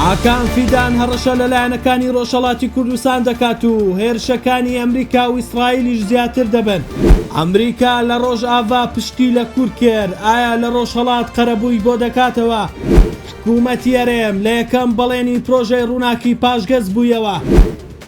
ئاکام فیدان هەڕەشە لە لایەنەکانی ڕۆژهەڵاتی کوردستان دەکات و هێرشەکانی ئەمریکا و ئیسرائیلیش زیاتر دەبن. ئەمریکا لە ڕۆژاڤا پشتی لە کورد کرد، ئایا لە ڕۆژهەڵات قەرەبووی بۆ دەکاتەوە؟ حکوومەتی هەرێم لە یەکەم بەڵێنی پرۆژەی ڕووناکی پاشگەز بوویەوە.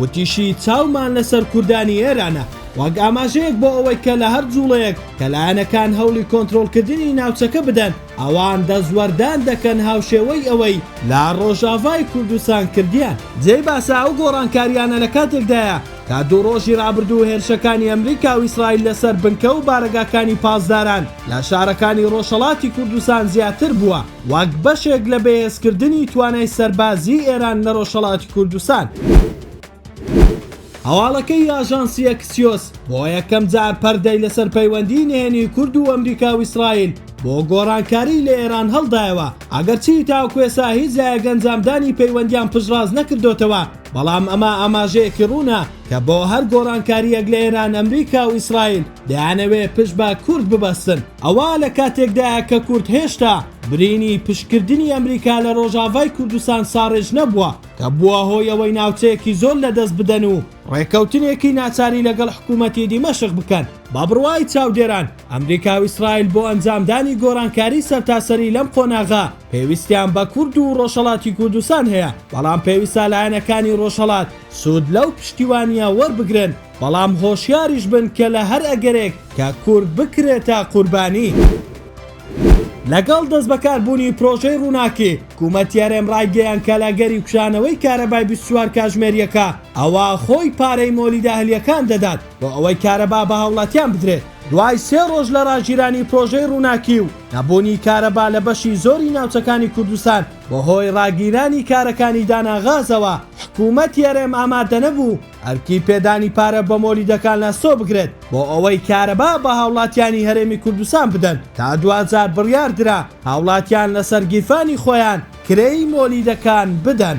وتیشی، چاومان لەسەر کوردانی ئێرانە وەک ئاماژەیەک بۆ ئەوەی کە لە هەر جوڵەیەک کە لایەنەکان هەوڵی کۆنترۆڵکردنی ناوچەکە بدەن، ئەوان دەستوەردان دەکەن هاوشێوەی ئەوەی لە ڕۆژاڤای کوردستان کردیان. جێی باسە ئەو گۆڕانکارییانە لە کاتێکدایە کە دوو ڕۆژی ڕابردوو هێرشەکانی ئەمریکا و ئیسرائیل لەسەر بنکە و بارەگاکانی پاسداران لە شارەکانی ڕۆژهەڵاتی کوردستان زیاتر بووە. وەک بەشێک لە بەهێزکردنی توانای سەربازیی ئێران لە ڕۆژهەڵاتی کوردستان. هەواڵەکەی ئاژانسی ئەکسیۆس، بۆ یەکەم جار پەردەی لەسەر پەیوەندیی نهێنیی کورد و ئەمریکا و ئیسرائیل بۆ گۆڕانکاریی لە ئێران هەڵدایەوە، ئەگەرچی تاوەکو ئێستا هیچ لایەک ئەنجامدانی پەیوەندییان پشتڕاست نەکردۆتەوە، بەڵام ئەمە ئاماژەیەکی ڕوونە کە بۆ هەر گۆڕانکارییەک لە ئێران ئەمریکا و ئیسرائیل دەیانەوێ پشت بە کورد ببەستن. ئەوە لە کاتێکدایە کە کورد هێشتا برینی پشتکردنی ئەمریکا لە ڕۆژاڤای کوردستان ساڕێژ نەبووە کە بووە هۆی ئەوەی ناوچەیەکی زۆر لە دەست بدەن و ڕێکەوتنێکی ناچاری لەگەڵ حکوومەتی دیمەشق بکەن. بە بڕوای چاودێران، ئەمریکا و ئیسرائیل بۆ ئەنجامدانی گۆڕانکاری سەرتاسەری لەم قۆناغە پێویستیان بە کورد و ڕۆژهەڵاتی کوردستان هەیە، بەڵام پێویستە لایەنەکانی ڕۆژهەڵات سوود لەو پشتیوانییە وەربگرن. بەڵام هۆشیاریش بن کە لە هەر ئەگەرێک کە کورد بکرێتە قوربانی. لەگەڵ دەستبەکاربوونی پرۆژەی ڕووناکی، حکوومەتی هەرێم ڕایگەیاند کە لە گەری کوژانەوەی کارەبای بیست و چوار کاژمێرییەکە ئەوا خۆی پارەی مۆلیدە ئەهلییەکان دەدات بۆ ئەوەی کارەبا بە هاوڵاتیان بدرێت. دوای سێ ڕۆژ لە ڕاگیرانی پرۆژەی ڕووناکی و نەبوونی کارەبا لە بەشی زۆری ناوچەکانی کوردستان بەهۆی ڕاگیرانی کارەکانی دانان غازەوە، حکوومەتی هەرێم ئامادەنەبوو، ئەرکی پێدانی پارە بە مۆلیدەکان لاسۆ بکرێت بۆ ئەوەی کارەبا بە هاوڵاتیانی هەرێمی کوردستان بدەن، تا دواجار بڕیار درا هاوڵاتیان لەسەر گیرفانی خۆیان کرێی مۆلیدەکان بدەن.